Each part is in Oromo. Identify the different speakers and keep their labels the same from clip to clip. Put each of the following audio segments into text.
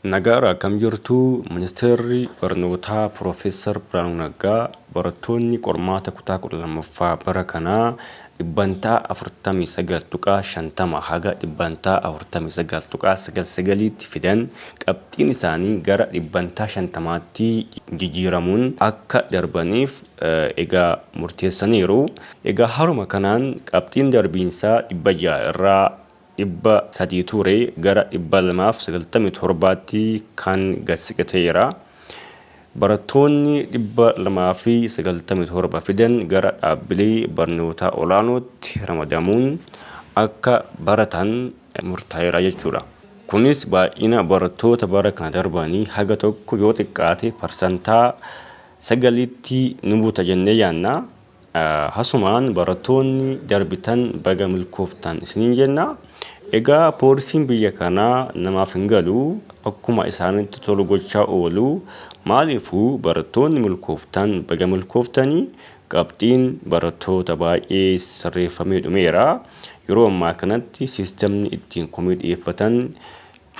Speaker 1: Nagaadha akkam jirtu? Ministeerri Barnootaa Piroofeesar Birhaanuu Naggaa barattoonni qormaata kutaa 12ffaa bara kanaa dhibbantaa 49.50 haga dhibbantaa 49.99tti fidan qabxiin isaanii gara dhibbantaa 50tti jijiiramuun akka darbaniif egaa murteessaniiru. Egaa haruma kanaan qabxiin darbiinsaa 600 irraa 300 ture gara 297tti kan gad siqe ta'eera. Barattoonni 297 fidan gara dhaabbilee barnootaa olaanootti ramadamuun akka baratan murtaa'eera jechuudha. Kunis baay'ina barattoota bara kana darbanii haga tokko yoo xiqqaate parsantaa 9tti ni buta jennee yaadna. Hasumaan barattoonni darbitan baga milkooftan isiniin jenna. Egaa poolisiin biyya kanaa namaaf hin galu akkuma isaanitti tolu gochaa oolu. Maaliifuu barattoonni milkooftan baga milkooftanii qabxiin barattoota baay'ee sirreeffamee dhumeera. Yeroo ammaa kanatti siistemni ittiin komii dhiyeeffatan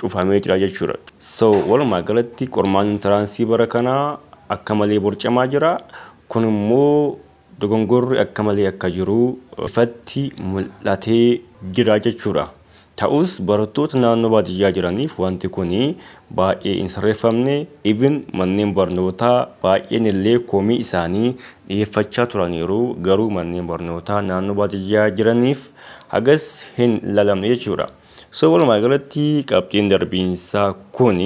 Speaker 1: cufamee jira jechuudha. So walumaa galatti qormaanni intiraansii bara kanaa akka malee borcamaa jira. Kun immoo dogongorri akka malee akka jiru ifatti mul'atee jira jechuudha. Ta'us barattoota naannoo baadiyyaa jiraniif wanti kun baay'ee hin sirreeffamne. Ibin manneen barnootaa baay'een illee komii isaanii dhiyeeffachaa turaniiru. Garuu manneen barnootaa naannoo baadiyyaa jiraniif hagas hin lalamne jechuudha. So walumaa galatti qabxiin darbiinsaa kun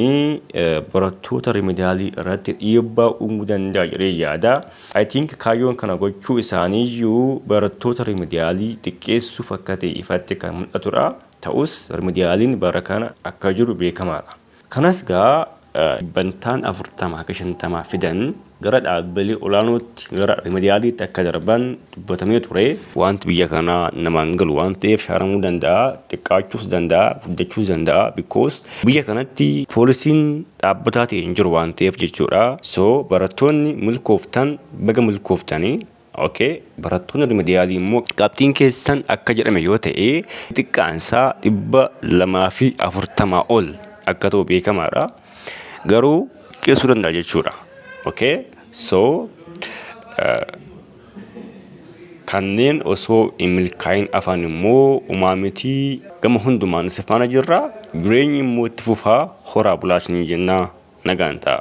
Speaker 1: barattoota rimidaalii irratti dhiibbaa uumuu danda'a jedhee yaada. I think kaayyoon kana gochuu isaaniiyyuu barattoota rimidaalii xiqqeessuuf akka ta'e ifatti kan mul'atudha. Ta'us rimidaaliin bara kana akka jiru beekamaadha. Kanas egaa dhibbantaan 40-50 fidan gara dhaabbilee olaanootti gara rimediyaaliitti akka darban dubbatamee ture. Wanti biyya kanaa namaan hin galu waan ta'eef shaaramuu danda'a, xiqqaachuus danda'a, guddachuus danda'a because biyya kanatti poolisiin dhaabbataa ta'e hin jiru waan ta'eef jechuudha. So barattoonni milkooftan baga milkooftanii. Ok barattoonni rimediyaalii immoo qabxiin keessan akka jedhame yoo ta'e xiqqaan isaa dhibba lamaa fi afurtamaa ol akka ta'u beekamaadha. Garuu qeessuu danda'a jechuudha. Ok so kanneen osoo hin milkaa'in afaan immoo umaa miti gama hundumaan isa faana jirra jireenyi immoo itti fufaa horaa bulaa isin jenna nagaan ta'a.